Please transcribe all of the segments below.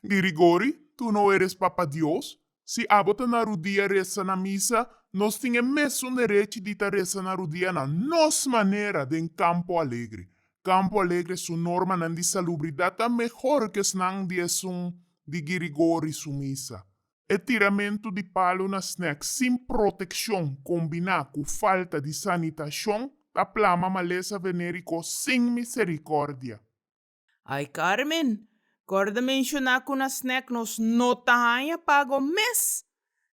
Di rigori, tur no eres Papa Dios? Si abo ta na rudia resa na misa, nos tin e mesun derechi di ta resa na rudia na nos manera den Campo Alegre. Campo Alegre su normanan di salubridad ta mehor ke esnan di esun di Girigori su misa. E tiramentu di palu na snack sin protekshon kombiná ku falta di sanitashon ta plama malesa venériko sin miserikordia. Ay Carmen, corda menciona cu na snack nos no ta hanja pago mes!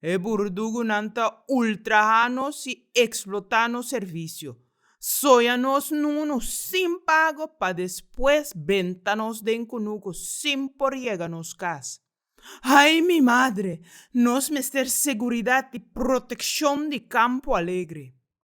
E burdugunan ta ultraha nos y explota nos servicio. Soja nos nunu sin pago pa despues benta nos den cunuco sin por yega nos cas. Ay mi madre! Nos mester seguridad y proteccion di Campo Alegre.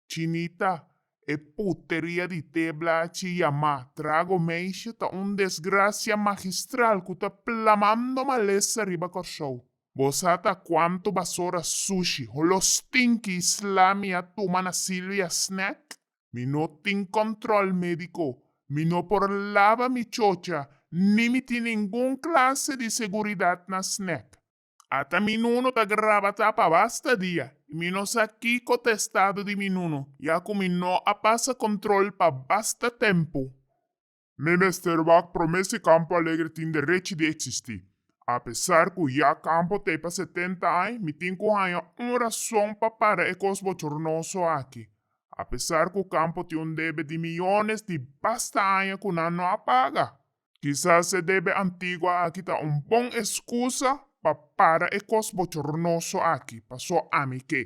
Chinita, E puteria di té blachi yamá trago meisje ta un desgrasia magistral ku ta plamando malesa riba Kòrsou. Bo sa ta kuantu basora, sushi, holo stinki i sla mi a tuma na Silvia Snack? Mi no tin kòntròl médiko, mi no por laba mi chocha ni mi tin ningun klase di seguridat na Snack. Ata mi nunu ta graba ta pa basta dia i mi no sa kiko ta estado di mi nunu ya ku mi no a pasa kontròl pa basta tempu. Mi mester wak promé si Kampo Alegre tin derechi di eksistí. Apesar ku ya Kampo ta e pa setenta aña, mi tin ku haña un rason pa para e kos bochornoso aki. Apesar ku Kampo tin un debe di miyones di basta aña ku nan no a paga. Kisas e debe antigua aki ta un bon escusa pa para e cos bochornoso aki, paso ami ke.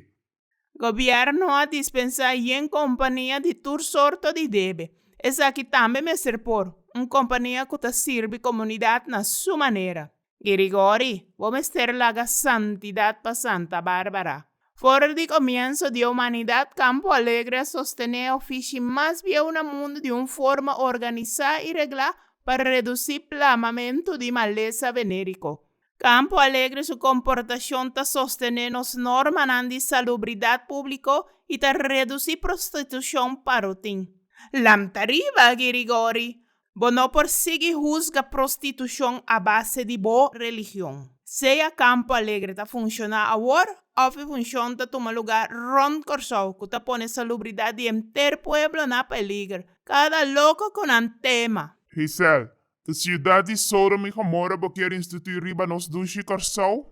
Gobierno a dispensa yen compania di tur sorto di debe. Esaki tambe mester por, un compania cu ta sirbi comunidad na su manera. Girigori, bo mester laga santidad pa Santa Barbara. For di comienso di e humanidad, Campo Alegre a sostené ofishi mas bieu na mundu di un forma organisa y regla pa reduci plamamento di malesa venerico. Campo Alegre su comportacion ta sostené nos normanan di salubridad publico y ta reduci prostitucion pa rutin. Lamta riba, Girigori! Bo no por sigui husga prostitushon a base di bo religion. Sea Campo Alegre ta funshoná awor òf e funshon ta tuma lugá rònt Kòrsou ku ta pone salubridat di henter pueblo na peliger, kada loko ku nan tema! Gisèl, Ta siudat di Sodom i Gomora bo kier instituí riba nos dushi Kòrsou?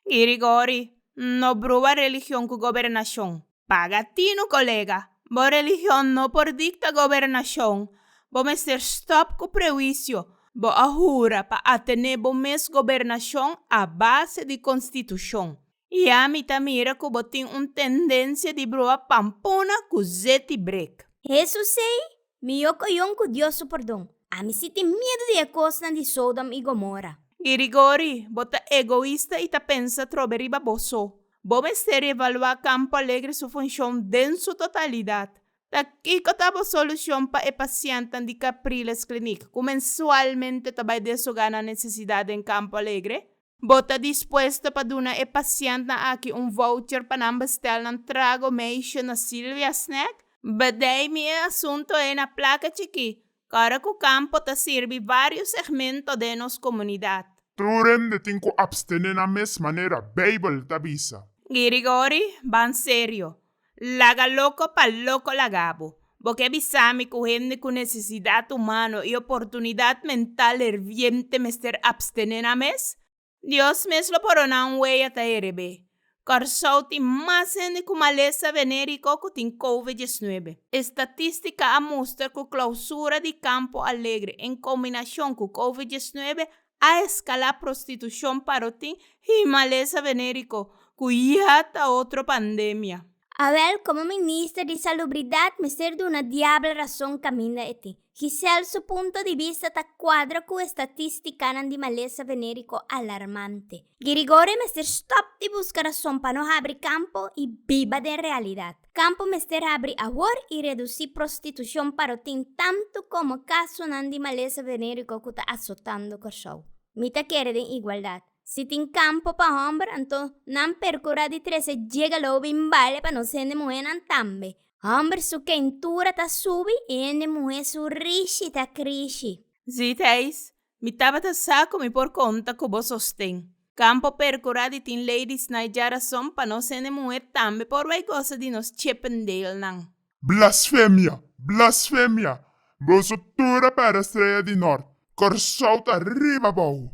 Girigori, No bruha religion ku gobernashon. Paga tinu kolega. Bo religion no por dikta gobernashon. Bo mester stòp ku prewisio. Bo a hura pa a tene bo mes gobernashon a base di konstitushon. I ami ta mira ku bo tin un tendensia di broa pampuna ku zeti brek. Hesus sei Mi yo koyon ku Dios su pordon. Ami si tin miedu di e kosnan di Sodom i Gomora. Di rigori, bo ta egoista i ta pensa trobe riba bo so. Bo mester reevaluá Kampo Alegre su funshon den su totalidat. Ta kiko ta bo solushon pa e pasientenan di Capriles Clinic ku mensualmente ta bai desogá nan nesesidat den Kampo Alegre? Bo ta dispuesto pa duna e pasientnan aki un voucher pa nan bestel nan trago meisje na Silvia Snack? Bedei mi e asunto e na plaka chikí, kòrda ku kampo ta sirbi vários segmento den nos komunidat. Tur hende tin ku abstené na mes manera Beibel ta bisa. Girigori, Ban serio. Laga loko pa loko lagabo. Bo ke bisami ku hende ku nesesidat humano i oportunidat mental herviente mester abstené nan mes? Dios mes lo por dona un wei ata herebé. Kòrsou tin mas hende ku malesa venériko ku tin Kove diesnuebe. Estatístika a mustra ku klousura di Kampo Alegre en kombinashon ku Kove diesnuebe a eskalá prostitushon paro tin himalesa venériko ku ya ta otro pandemia. Awèl komo minister di salubridat mester duna diabel rason kaminda e tin. Gisèl su punto di bista ta kuadra ku estatístikanan di malesa venériko alarmante. Girigori mester stòp di buska rason pa no habri kampo i biba den realidat. Kampo mester abri awor i redusi prostitushon pa lo tin tantu komo kasonan di malesa venériko ku ta asotando Kòrsou. Mi ta kere den igualdat. Si tin kampo pa hòmber, anto nan perkurá di trese jega lo bin bale pa nos hende muhénan tambe. Hòmber su kentura ta subi i hende muhé su rishi ta krishi. Zitijs, Mi tabata sa ku mi por konta ku bo sosten. Kampo perkurá di tin lei di snai dja rason pa nos hende muher tambe por bai gosa di nos Chippendalenan. Blasfemia! Blasfemia! Boso tur a pèrdè Strea di Nort! Kòrsou ta riba bou!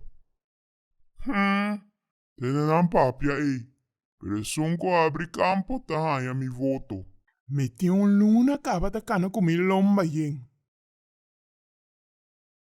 Hm! Tene nan papia ei, pero esun ku abri kampo ta haña mi voto. Mi tin un luna tabata kana ku mi lomba yen.